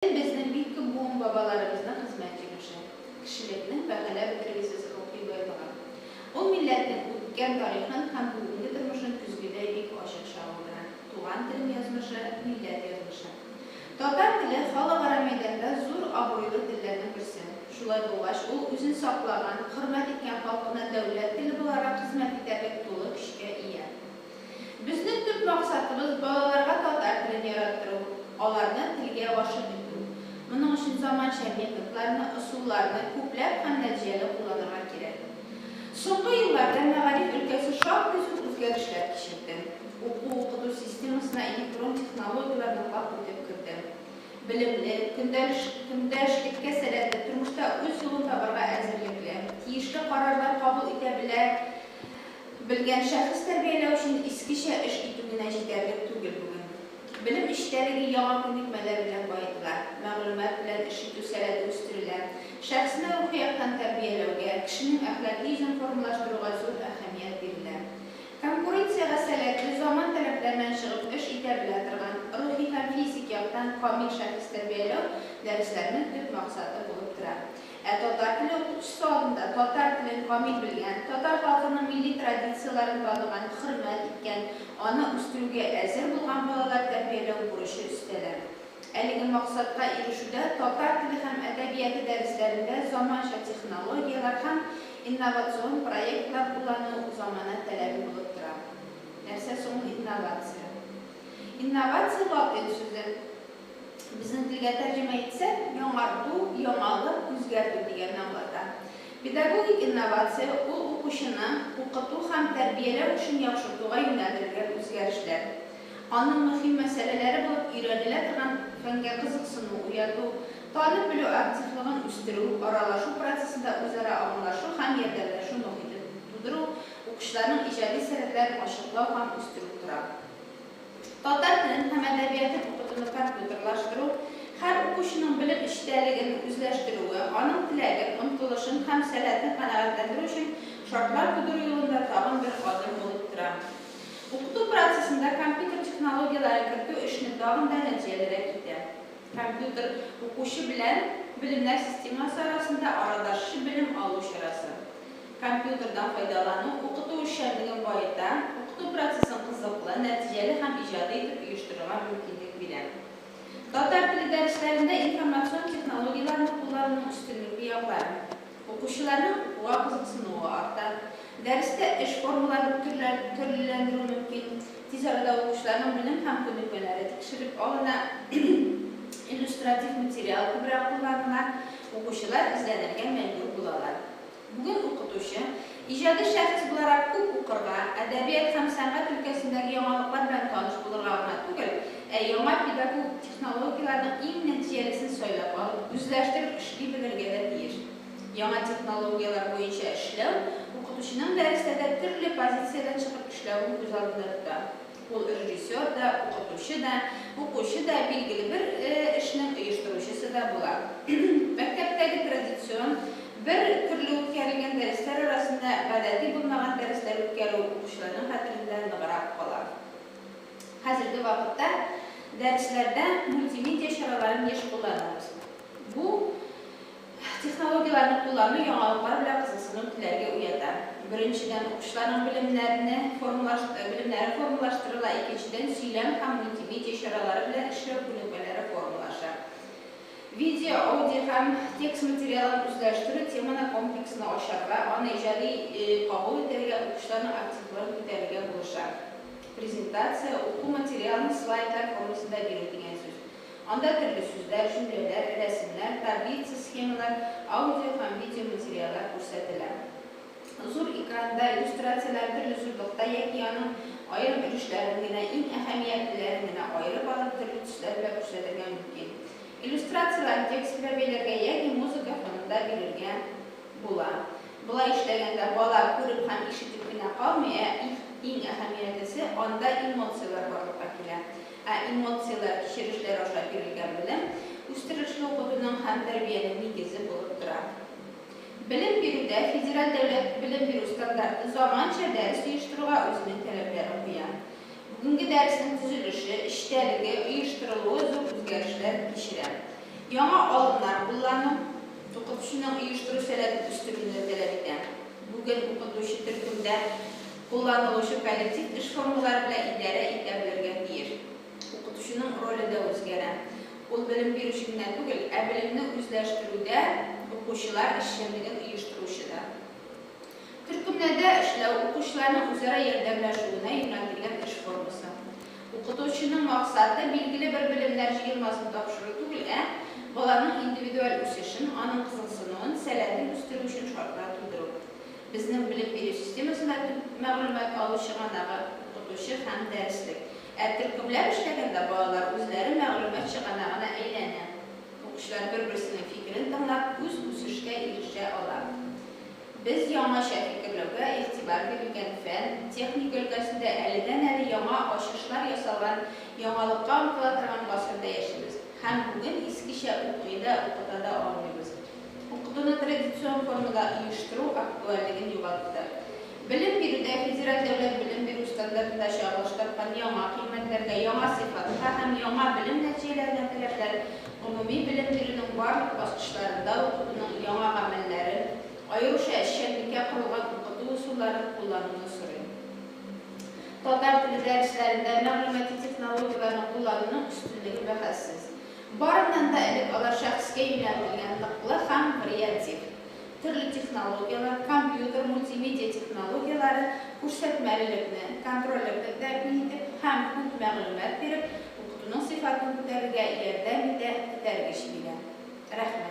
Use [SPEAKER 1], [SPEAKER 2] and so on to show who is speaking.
[SPEAKER 1] Безнең бик күп буын-бабаларыбызның хезмәт җимеше, кешелекнең бәһаләп бетергесез рухи байлыгы. Ул милләтнең үткән тарихын һәм бүгенге тормышын көзгедәй бик ачык чагылдыра. Туган телем язмышы, милләт язмышы. Татар теле, халыкара мәйданда зур абруйлы телләрнең берсе. Шулай булгач, ул үзен саклаган, хөрмәт иткән халкына дәүләт теле буларак хезмәт итәрлек тулы көчкә ия. Безнең төп максатыбыз, балаларга татар телен яраттыру, аларны телгә гашыйк итү. Моның өчен заманча методларны, ысулларны күпләп һәм нәтиҗәле кулланырга кирәк. Соңгы елларда мәгариф өлкәсе шактый зур үзгәрешләр кичерде. Уку-укыту системасына электрон технологияләр ныклап үтеп керде. Белемле, көндәшлеккә сәләтле, тормышта үз юлын табарга әзерлекле, тиешле карарлар кабул итә белә, Белгән шәхес тәрбияләү өчен искечә эш итү генә җитәрлек түгел бүген. Белем эчтәлеге яңа күнекмәләр белән баетыла, мәгълүмат белән эш итү сәләте үстерелә. Шәхесне рухи яктан тәрбияләүгә, кешенең әхлаки йөзен формалаштыруга зур әһәмият бирелә. Конкуренциягә сәләтле, заман таләпләреннән чыгып эш итә белә торган, рухи һәм физик яктан камил шәхес тәрбияләү дәресләренең төп максаты булып тора. Ә татар теле укытучысы алдында татар телен камил белгән, татар халкының милли традицияләрен таныган, хөрмәт иткән, аны үстерүгә әзер булган балалар тәрбияләү бурычы өстәлә. Әлеге максатка ирешүдә татар теле һәм әдәбияты дәресләрендә заманча технологияләр һәм инновацион проектлар куллану замана таләбе булып тора. Нәрсә соң ул инновация? Инновация латин сүзе. Безнең телгә тәрҗемә итсәк, яңарту, яңалык, үзгәртү дигәнне аңлата. Педагогик инновация, ул укучыны укыту һәм тәрбияләү эшен яхшыртуга юнәлдерелгән үзгәрешләр. Аның мөһим мәсьәләләре булып өйрәнелә торган фәнгә кызыксыну уяту, танып белү активлыгын үстерү, аралашу процессында үзара аңлашу һәм ярдәмләшү мохитен тудыру, укучыларның иҗади сәләтләрен ачыклау һәм үстерү тора. Татар телен һәм әдәбиятын укытуны компьютерлаштыру, һәр укучының белем эчтәлеген үзләштерүе, аның теләген, омтылышын һәм сәләтен канәгатьләндерү өчен шартлар тудыру юлында тагын бер адым булып тора. Укыту процессында компьютер технологияләрен кертү эшне тагын да нәтиҗәлерәк итә. Компьютер, укучы белән белемнәр системасы арасында арадашчы белем алу чарасы. Компьютердан файдалану укыту эшчәнлеген баета, укыту процессын кызыклы, нәтиҗәле һәм иҗади итеп оештырырга мөмкинлек бирә. Татар теле дәресләрендә информацион технологияләрне куллануның өстенлекле яклары, укучыларның укуга кызыксынуы арта, дәрестә эш формаларын төрлеләндерү мөмкин, тиз арада укучыларның белем һәм күнекмәләре тикшереп алына, иллюстратив материал күбрәк кулланыла, укучылар эзләнергә мәҗбүр булалар. Бүген укытучы, иҗади шәхес буларак күп укырга, әдәбият һәм сәнгать өлкәсендәге яңалыклар белән таныш булырга гына түгел, ә яңа педагогик технологияләрнең иң нәтиҗәлесен сайлап алып, үзләштереп эшли белергә дә тиеш. Яңа технологияләр буенча эшләү укытучының дәресләрдә төрле позициядән чыгып эшләвен күз алдында тота. Ул режиссер да, укытучы да, укучы да, билгеле бер эшнең оештыручысы да була. Мәктәптәге традицион, бер төрле үткәрелгән дәресләр арасында гадәти булмаган дәресләр үткәрү укучыларның хәтерендә ныграк кала. Хәзерге вакытта дәресләрдә мультимедиа чараларын еш кулланабыз. Бу, Технологияләрне куллану яңалыклар белән кызыксыну теләге уята. Беренчедән, укучыларның белемнәрне формалаштыру белемнәре формалаштырыла, икенчедән, сөйләм һәм мультимедиа чаралары белән эшләү күнекмәләре формалаша. Видео, аудио һәм текст материалын үзләштерү теманы комплексны ачарга, аны иҗади кабул итәргә, укучыларның активлыгын күтәрергә булыша. Презентация, уку материалын слайдлар формасында бирү дигән сүз. Анда төрле сүзләр, җөмләләр, рәсемнәр, таблица, схемалар, аудио һәм видео материаллар күрсәтелә. Зур экранда иллюстрацияләр төрле зурлыкта яки аның аерым өлешләрен генә, иң әһәмиятлеләрен генә аерып алып, төрле төсләр белән күрсәтергә мөмкин. Иллюстрацияләрне текст белән бәйләргә яки музыка фонында бирергә була. Болай эшләгәндә бала күреп һәм ишетеп кенә калмый, ә иң әһәмиятлесе, анда эмоцияләр барлыкка килә. Ә эмоцияләр, кичерешләр аша бирелгән белем үстерешле укытуның һәм тәрбиянең нигезе булып тора. Белем бирүдә федераль дәүләт белем бирү стандарты заманча дәрес оештыруга үзенең таләпләрен куя. Бүгенге дәреснең төзелеше, эчтәлеге, оештырылуы зур үзгәрешләр кичерә. Яңа алымнар куллану, укытучының оештыру сәләтен үстерүне тәләп итә. Бүген укытучы төркемдә. Кулланылучы коллектив эш формалары белән идарә итә белергә тиеш. Укытучының роле дә үзгәрә. Ул белем бирүче генә түгел, ә белемне үзләштерүдә укучылар эшчәнлеген оештыручы да. Төркемнәрдә эшләү, укучыларның үзара ярдәмләшүенә юнәлтелгән эш формасы. Укытучының максаты, билгеле бер белемнәр җыелмасын тапшыру түгел, ә баланың индивидуаль үсешен, аның кызыксынуын, сәләтен үстерү өчен шартлар тудыру. Безнең белем бирү системасында төп мәгълүмат алу чыганагы, укытучы һәм дәреслек. Ә төркемләп эшләгәндә балалар үзләре мәгълүмат чыганагына әйләнә. Укучылар бер-берсенең фикерен тыңлап, үз үсешкә ирешә ала. Без яңача фикерләүгә игътибар бирелгән фән, техника өлкәсендә әледән-әле яңа ачышлар ясалган, яңалыкка омтыла торган гасырда яшибез һәм бүген искечә укый да, укыта да алмыйбыз. Укытуны традицион формада оештыру актуальлеген югалтты. Белем бирүдә федераль дәүләт белем бирү стандартында чагылыштырылган яңа кыйммәтләргә, яңа сыйфатка һәм яңа белем нәтиҗәләренә таләпләр гомуми белем бирүнең барлык баскычларында укытуның яңа гамәлләрен, аеруча эшчәнлеккә корылган укыту ысулларын куллануны сорый. Татар теле дәресләрендә мәгълүмати технологияләрне куллануның өстенлеге бәхәссез. Барыннан да элек алар шәхескә юнәлтелгән ныклы һәм вариатив. Төрле технологияләр, компьютер, мультимедиа технологияләре, күрсәтмәлелекне, контрольләрне тәэмин итеп һәм күп мәгълүмат биреп, укытуның сыйфатын күтәрергә ярдәм итә, этәргеч бирә. Рәхмәт.